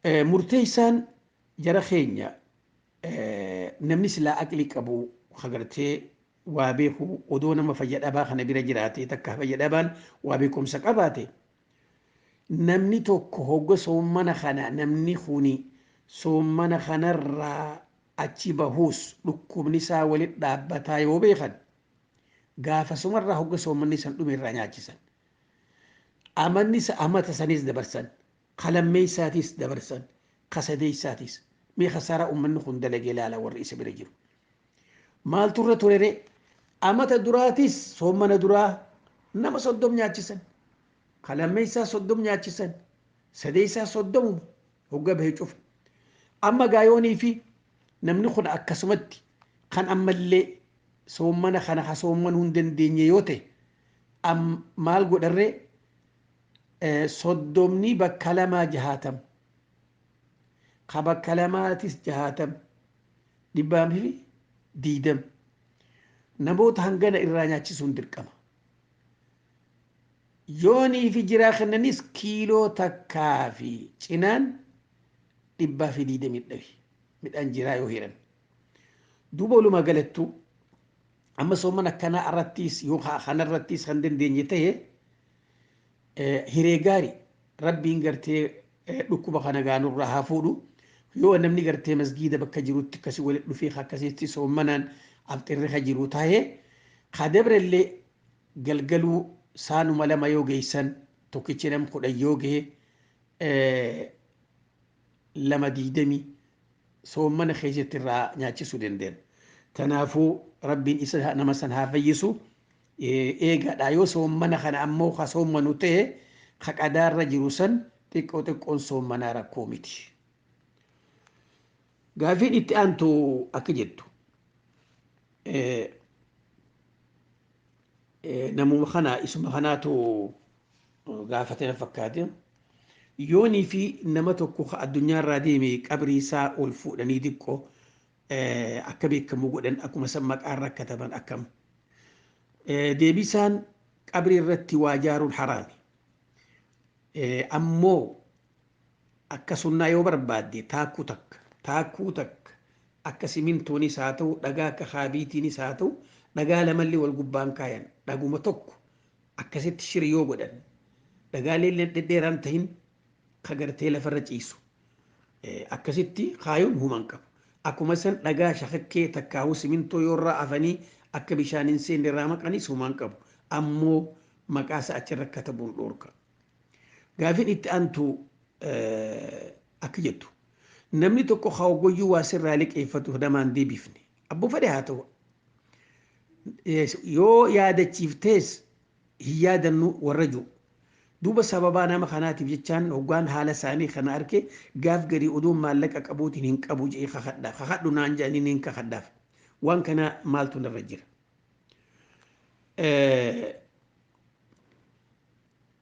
Murteessaan jara keenya namni silaa aqli qabu ka gartee waa beeku odoo nama fayya dhabaa kana bira jiraate takka fayya dhabaan waa beekumsa qabaate namni tokko hogga soommana kana namni kuni soommana kanarraa achi bahuus dhukkubni isaa walitti dhaabbataa yoo beekan gaafasumarraa hogga soommanni san dhume irraa nyaachisan. Amanni amata sanis dabarsan. Ka lammeeysaatiis dabarsan, ka sadeeysaatiis. Mee khasaaraa ummanni khun dalage laalaa warri isa bira jiru. Maaltu irra ture ree? Amata duraatiis soommana duraa nama soddom nyaachisan. Ka lammeeysaa soddom nyaachisan. Sadeeysaa soddomuma hogga bahe cufa. Amma gaa yoonii fi namni khun akkasumatti kan ammallee soommana khana ha soommanu hin dandeenye yoo tahe, am maal godhan ree? soddomnii bakka lamaa jahaatam ka bakka lamaatis jahaatam dhibbaa fi diidam namoota hangana irraa nyaachisuun dirqama yoonii fi jiraa kennanis kiiloo takkaa fi cinaan dhibbaa fi diidamii dhabi midhaan jiraa yoo hiran Duuba walumaa galattuu amma soomana akkanaa irrattiis yoo kana irrattiis kan dandeenye ta'e hiree gaari rabbiin gartee dhukkuba kana gaanurraa haa fuudhu yoo namni gartee masgiida bakka jirutti akkasii walitti dhufee akkasitti soomanaan afxirri ka jiru taa'ee ka dabrellee galgaluu saanuma lama yoo geessan tokkichi nam kudhan yoo gahe lama digdamii soommana keessatti irraa nyaachisuu dandeenna. Kanaafuu rabbiin isa nama san haa fayyisu eegaadha yoo soommana kana ammoo ka soommanu ta'e ka qadaarra jiru san xiqqoo xiqqoon soommanaa rakkoo miti. Gaafiin itti aantu akka jettu namuma kana isuma kanaatu gaafate na fakkaate. Yoonii fi nama tokko ka addunyaa irraa deeme qabrii isaa ol fuudhanii diqqo akka beekamu godhan akkuma san maqaa irra kataban akkam. Deebisaan qabrii irratti waa jaaruun haraami. Ammoo akka sunnaa yoo barbaadde taakkuu takka taakkuu takka akka simintoonis haa ta'u dhagaa akka haabiitiinis haa ta'u dhagaa lamallee wal gubbaan kaayan dhaguma tokko Akkasitti shiri yoo godhan dhagaaleen dhedheeraa hin tahin ka gartee lafarra ciisu. Akkasitti kaayuun huma hin qabu. Akkuma san dhagaa shakakkee takkaahuu simintoo yoo irraa afanii akka bishaan hin seenne irraa maqanis huma hin qabu. Ammoo maqaa isaa achirra katabuun dhoorka. Gaafin itti aantu akka jettu. Namni tokko ka hoggoyyuu waa sirraa liqeeffatu namaan deebifne. Abboo fedhe haa tahu. Yoo yaadachiiftees hin yaadannu warra ju'u. Duuba sababaa nama kanaatiif jechaan hoggaan haala isaanii kana arke gaaf garii odoon maallaqa qabuutiin hin qabu je'ee kakadhaaf. Kakadhu naan je'anii niin kakadhaaf. Waan kanaa maaltu narra jira?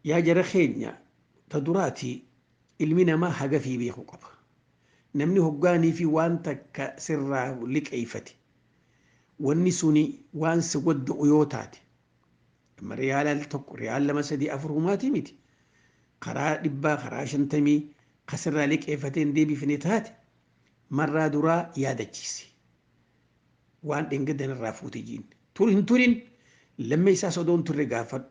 Yaa jara keenya ta duraati ilmi namaa hagafii beekuu qaba. Namni hoggaanii fi waan takka sirraa liqeeffate Wanni suni waan si godda'u yoo taate, amma riyaala al tokko, riyaal lama sadii afur humaatii miti. Karaa dhibbaa, karaa shantamii ka sirraa liqeeffatee hin deebifne taate, marraa duraa yaadachiisi. Waan dheengadda narraa fuute jiin. Tur hin turin, lammeessaas odoo hin turre gaafadhu.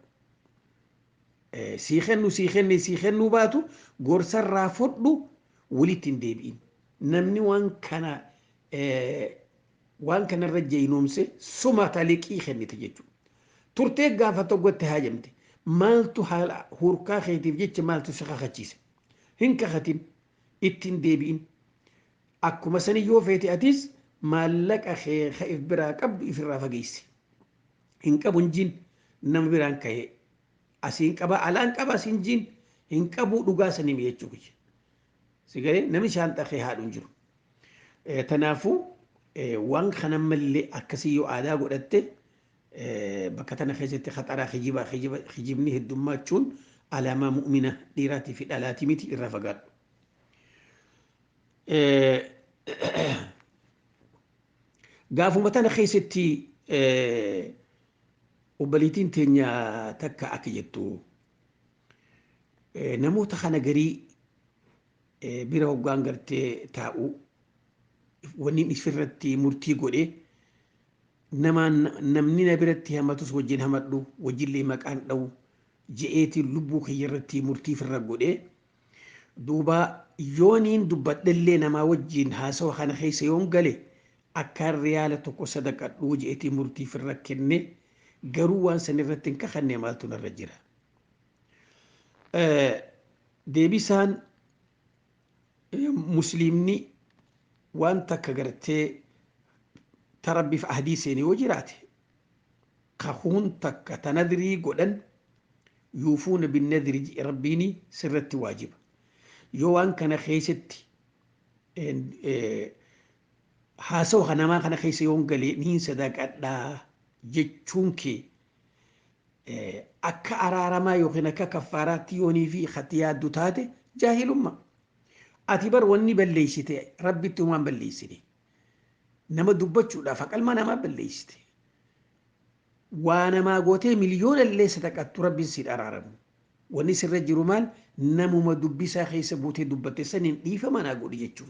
Sii kennu sii kenne sii kennuu baatu gorsa irraa fudhu walitti hin deebi'in. Namni waan kana waan kana irra jeynoomse sumata liqii kennite jechuudha. Turtee gaafa tokkotti haajamte maaltu haala hurkaa keetiif jecha maaltu si kakachiise? Hin kakatin, itti hin deebi'in. Akkuma sani yoo feete atis maallaqa kee ka if biraa qabdu ifirraa fageessi. Hin qabu hin jiin nama biraan kahee asiin qaba alaan qaba asiin jiin hin qabuu dhugaa sanii mi'achuu kiyya. Sigalee namni shaanxaa kee haadhu hin jiru. Tanaafuu waan kana malee akkasii yoo aadaa godhatte bakka tana keessatti haxaraa kijibaa kijibni heddummaachuun alaamaa mu'mina dhiiraatii fi dhalaatii miti irraa fagaadhu. Gaafuma tana keessatti obboleettiin teenya takka akka jettu Namoota kana garii bira hoggaan gartee taa'u wanni isirratti murtii godhe namaan namni na biratti hamatus wajjin hamadhu wajjillee maqaan dha'u je'eetiin lubbuu kiyya irratti murtii firra godhe duuba yooniin dubbadhellee namaa wajjin haasawa kana keessa yoon gale akkaan riyaala tokko sadaqadhuu je'eetiin murtii firra kenne garuu waan san irratti hin kakanne maaltu narra jira deebisaan musliimni waan takka gartee ta rabbiif ahdii seene yoo jiraate kakuun takka ta nadrii godhan yuufuuna binnadri jedhe rabbiini sirratti waajiba yoo waan kana keessatti haasawa namaa kana keessa yoon galee niin sadaaqadhaa jechuun kee akka araaramaa yookiin akka kaffaaraatti yoonii fi katti yaaddu taate jaahilummaa. Ati bar wanni balleessite rabbitti homaan balleessine. Nama dubbachuudhaaf haqalma namaa balleessite. Waa namaa gootee miliyoona illee sadaqattu rabbiin siif araaramu. Wanni sirra jiru maal namuma dubbisaa keessa buutee dubbatte saniin dhiifama naa godhi jechuun.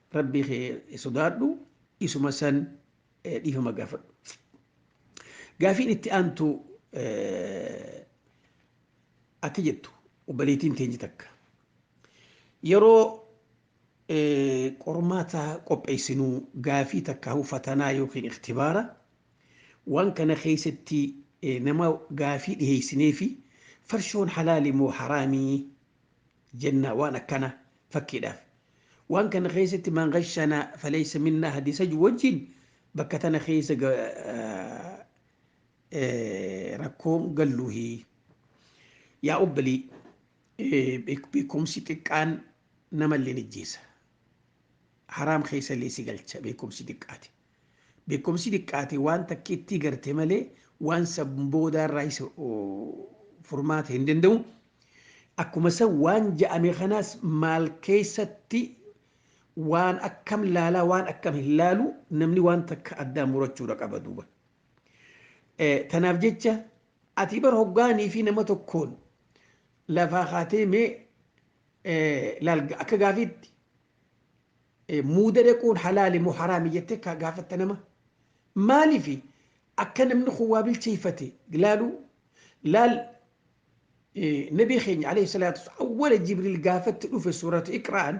Rabbii kee sodaadhu isuma san dhiifama gaafadhu. Gaafiin itti aantu akka jettu obboleettiin teenye takka yeroo qormaata qopheessinu gaafii takka fatanaa yookiin iktibaara waan kana keessatti nama gaafii dhiheessinee fi farshoon halaali moo haraamii jenna waan akkana fakkiidhaaf waan kana keessatti man ghashana falaysa minna hadisa ju wajjin bakka tana keessa rakkoon galluuhi yaa obbalii beekumsi xiqqaan namallee nijjeessa haraam keessa illee si galcha beekumsi xiqqaati Beekkomsi diqqaate waan takkiittii garte malee waan san boodaa irraa isa furmaata hin danda'u. Akkuma san waan ja'ame kanaas maal keessatti waan akkam laalaa waan akkam hin laalu namni waan takka addaan murachuudha qaba duuba. Tanaaf jecha ati bar hoggaanii fi nama tokkoon lafaa kaatee mee laal akka gaafiitti muuda dhaquun halaali moo haraami jettee ka gaafatta nama maalifi akka namni kun waa bilcheeffate laalu laal nabii keenya alayhi salaatu wassalaam awwala jibriil gaafatti dhufe suuratu iqra'an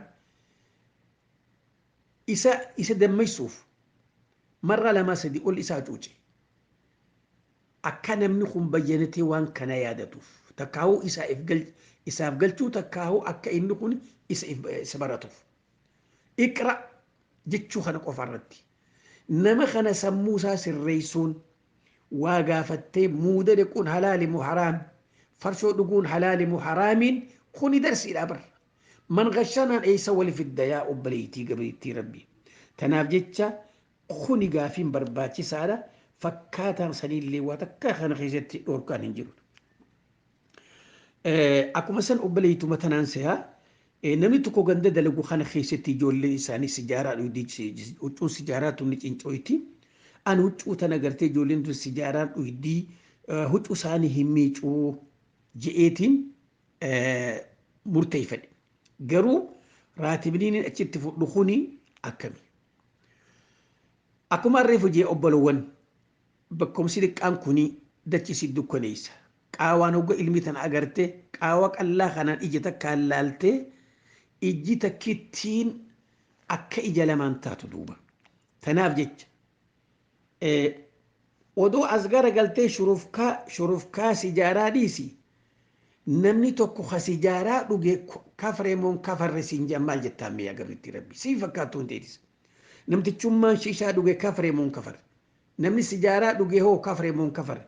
isa isa dammaysuuf marra lamaa sadi ol isaa cuuce Akkaa namni kun bayyanatee waan kanaa yaadatuuf takkaahuu isaaf galchuu takkaahuu akka inni kun isa baratuuf. Iqra jechuu kana qofa irratti nama kana sammuu isaa sirreessuun waa gaafattee muuda dhiquun halaali moo haraami farshoo dhuguun halaali moo haraamiin kuni darsiidha bar. Man gashanaan eessa wali fidda yaa obboleettii gabriittii rabbii. Tanaaf jecha Kuni gaafiin barbaachisaadha. Fakkaataan saniillee waa takkaa kana keessatti dhorkaan hin jiru. Akkuma san obboleettuma tanaan seha namni tokko ganda dalagu kana keessatti ijoolleen isaanii sijaaraa dhuydi huccuun sijaaraa tun ni cincooyti. An huccuu tana gartee ijoolleen tun sijaaraan dhuydi huccuu isaanii hin miicuu je'eetiin murteeffadhe. Garuu raatibniin achitti fudhu kuni akkami? Akkuma harree fujee obbolowwan bakkomsi xiqqaan kuni dachi si dukkaneessa. Qaawaan hogga ilmi tana agarte qaawa qallaa kanaan ija takkaan laaltee ijji takkittiin akka ija lamaan taatu duuba. Tanaaf jecha Odoo as gara galtee shurufkaa shurufkaa sijaaraa dhiisi namni tokko ka sijaaraa dhuge kafre moo hin kafarre siin jedhan maal jettaan mee yaa gabrittii rabbii sii fakkaattuu hin teetis namtichummaan shishaa dhuge kafre moo hin kafarre namni sijaaraa dhuge hoo kafre moo hin kafarre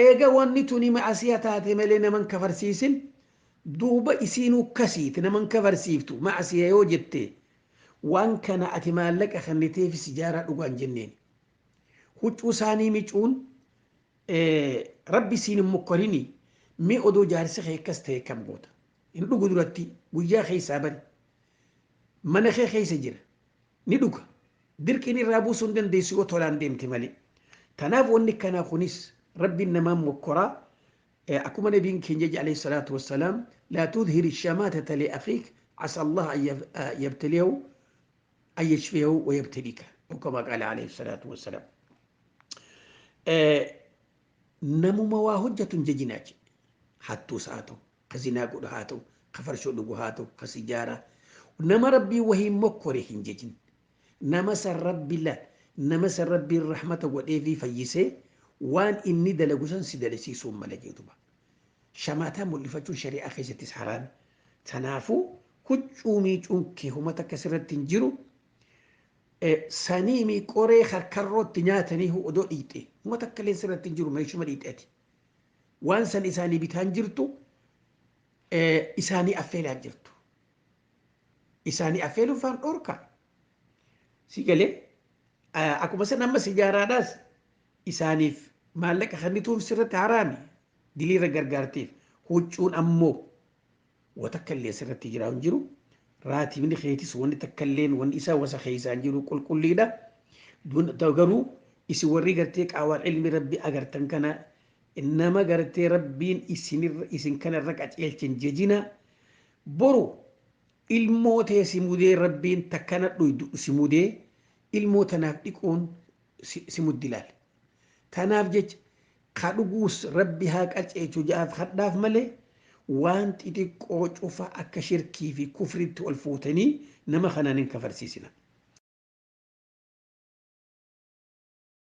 eega wanni tuni ma'asiya taate malee nama hin kafarsiisin duuba isiinuu kasiiti nama hin kafarsiiftu ma'asiya yoo jette Waan kana ati maallaqa kenniteefi sijaaraa dhugaa hin jenneeni. Huccuu saanii micuun Rabbi siin hin mokkorinii mee odoo jaarsi kee akkas ta'e akkam goota? Hin dhugu duratti guyyaa keessaa bari. Mana kee keessa jira. Ni dhuga. Dirqiin irraa buusuu hin dandeessu yoo tolaan deemte malee. Tanaaf wanni akkanaa kunis Rabbiin namaan mokkoraa Akkuma Nabiin keenya jedhe alayhi salaatu wassalaam laa tudhiri shamaatata li akhiik asaa Allaah an yabtaliyahu an yashfiyahu wa yabtaliika aw kamaa qaala alayhi salaatu wassalaam. Namuma waa hojjatu hin jajinaa jedhe. Hattuus haa ta'u, ka zinaa godhu haa ta'u, ka farshoo dhugu haa ta'u, ka sijaaraa. Nama Rabbii wahiin mokkore hin jajin. Nama san Rabbi la Nama san Rabbiin rahmata godheefii fayyisee waan inni dalagu san si dalisiisuun mala jee duba. Shamaataa mul'ifachuun shari'aa keessattis haraami. Tanaafuu huccuu miicuun kee homa takka sirratti hin jiru. Saniimi qoree karkarrootti nyaatanii huu odoo dhiixee homa takka illee sirratti hin jiru meeshuma dhiixee ati. Waan san isaanii bitaan jirtu isaanii affeelaan jirtu. isaanii affeeluun faan dhorkaa si galee akkuma san amma sijaaraadhaas isaaniif maallaqa kennituun sirratti haraami diliirra gargaarteef huccuun ammoo watakka illee sirratti jiraa hin jiru raatibni keetis wanni takka illeen wanni isaa wasa keessaa hin jiru qulqulliidha garuu isin warri gartee qaawaan ilmi rabbi agartan kana nama gartee rabbiin isin kana irra qaceelchin jejina Boru ilmoo tee si mudee rabbiin takkana dhuydu si mudee ilmoo tanaaf dhiquun si muddi laal. Tanaaf jecha ka dhuguus rabbi haa qaceelchu ja'aaf kadhaaf malee waan xixiqqoo cufa akka shirkii fi kufriitti ol fuutanii nama kanaan hin kafarsiisinaa.